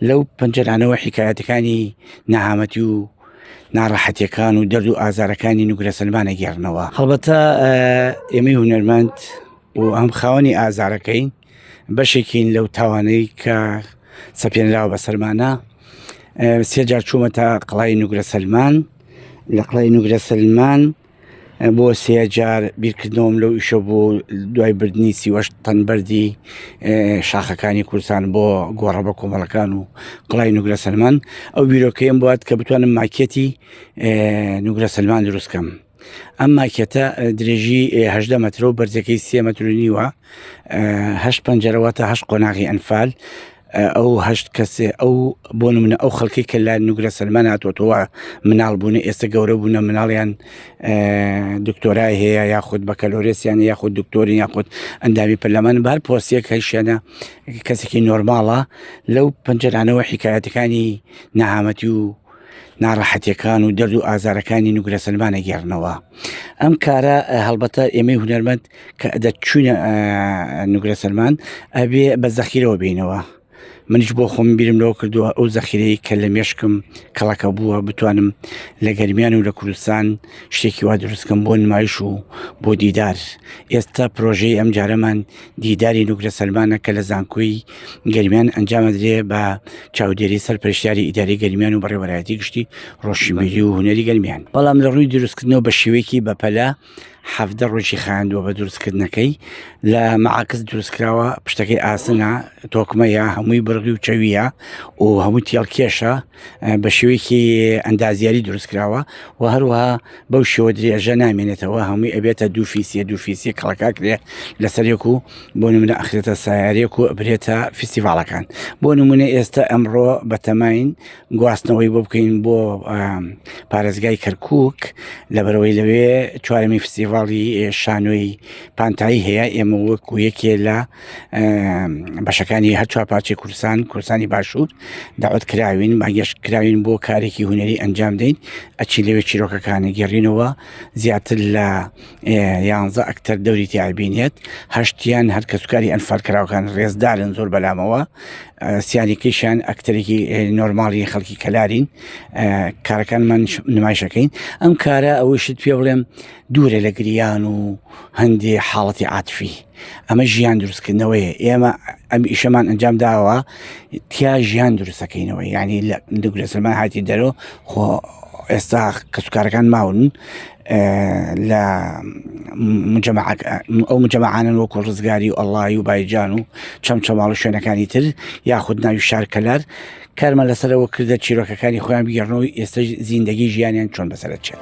لەو پەنجەرانەوە حیکایەتەکانی نەهامەتی و ناڕەحەتیەکان و دەرد و ئازارەکانی نوگرە سلمانە گێڕنەوە هەڵبەتە ئێمەی هونەرمەند و ئەم خاوەنی ئازارەکەین بەشێکین لەو تاوانەی کە سەپێنراوە بە سەرمانە سێجار چوومەتە قڵای نوگرە سلمان لە قڵای نوگرە سلمان بۆ سێ جار بیرکردنەوەم لەو ئیشە بۆ دوای بردننی سیوەش تەنبەری شاخەکانی کوردستان بۆ گۆڕە بە کۆمەڵەکان و قڵای نوگرە سەلمان ئەو بیرۆکەیەم بات کە بتوانم ماکێتی نوگرە سەلمان دروستکەم ئەم ماکێتە درێژی هەدە مەترۆ بەرزەکەی سێ مەترونیوە هەش پەنجەرەوە تا هەش قۆناغی ئەنفال ئەو هەشت کەسێ ئەو بۆ منە ئەو خەڵکی کە لا نوگرە سەلمان هاتوەوە مناڵ بوون ئێستا گەورە بوونە مناڵیان دکتۆرای هەیە یاخود بەکەلۆرێسیان یاخود دکتۆری یاخود ئەندامی پەرلەمان بار پۆسیەک هەیشێنە کەسێکی نۆرماڵە لەو پەنجەرانەوە حکایەتەکانی نەهامەتی و ناڕەحەتیەکان و دەرد و ئازارەکانی نوگرە سلمانە گێڕنەوە ئەم کارە هەڵبەتە ئێمەی هونەرمەند کە دەچوینە نوگرە سلمان ئەبێ بە زەخیرەوە بینەوە منیش بۆ خۆم بیرم لەوە کردووە ئەو زەخیرەی کە لە مێشکم کەڵەکە بووە بتوانم لە گەرمیان و لە کوردستان شتێکی وا دروستکەم بۆ نمایش و بۆ دیدار ئێستا پرۆژەی ئەم جارەمان دیداری نوگرە سەلمانە کە لە زانکۆی گەرمیان ئەنجامەدرێ بە چاودێری سەر پرشیاری ئیداری گەرمیان و بەڕێوەرایەتی گشتی ڕۆشنبیری و هوەری گەرمیان بەڵام لە ڕووی دروستکردنەوە بە شێوەیەکی بەپەلە حەفدە ڕۆژی خاندووە بە دروستکردنەکەی لە مەعاکس دروستکراوە پشتەکەی ئاسنە تۆکمەیە هەمووی بڕگی و چەویە و هەمووی تێڵکێشە بە شێوەیەکی ئەندازیاری دروستکراوە و هەروەها بەو شێوە درێژە نامێنێتەوە هەمووی ئەبێتە دوو فیسیە دوو فیسی کەڵکا کرێ لەسەرێک و بۆ نمونە ئەخرێتە سایارێک و برێتە فیسیڤالەکان بۆ نمونە ئێستا ئەمڕۆ بەتەماین گواستنەوەی بۆ بکەین بۆ پارێزگای کەرکک لەبەرەوەی لەوێ چوارەمی فستیڤاڵی شانۆی پانتایی هەیە ئێمە وەکو یەکێ لە بەشەکانی هەر چوار پارچی کوردستان کوردستانی باشوور داوت کراوین ماگەشت کراوین بۆ کارێکی هوەری ئەنجام دەین ئەچی لەوێ چیرۆکەکانی گەڕینەوە زیاتر لە یانزە ئەکتەر دەوری تیابینێت هەشتیان هەر کەسکاری ئەنفال کراوەکان ڕێزدارن زۆر بەلامەوە سیانێکیشان ئەکتەرێکی نۆرماڵی خەڵکی کەلارین کارەکان من نمایشەکەین ئەم کارە ئەوەی شت پێ بڵێم دوورە لە گریان و هەندێ حاڵەتی عاتفی ئەمە ژیان دروستکردنەوەیە ئێمە ئەم ئیشەمان ئەنجام داوە تیا ژیان دروستەکەینەوە ینی لە دوگرە سلمان هاتی دەرۆ خۆ ئێستا کەسوکارەکان ماون لە ئەو مجەمەعانن وەکو ڕزگاری و ئەڵی و بایجان و چەم چەماڵ و شوێنەکانی تر یاخود ناوی شارکەلار کارمە لەسەرەوە کردە چیرۆکەکانی خۆیان بگەڕنەوەی ئێستا زیندگی ژیانیان چۆن بەسەرچێت.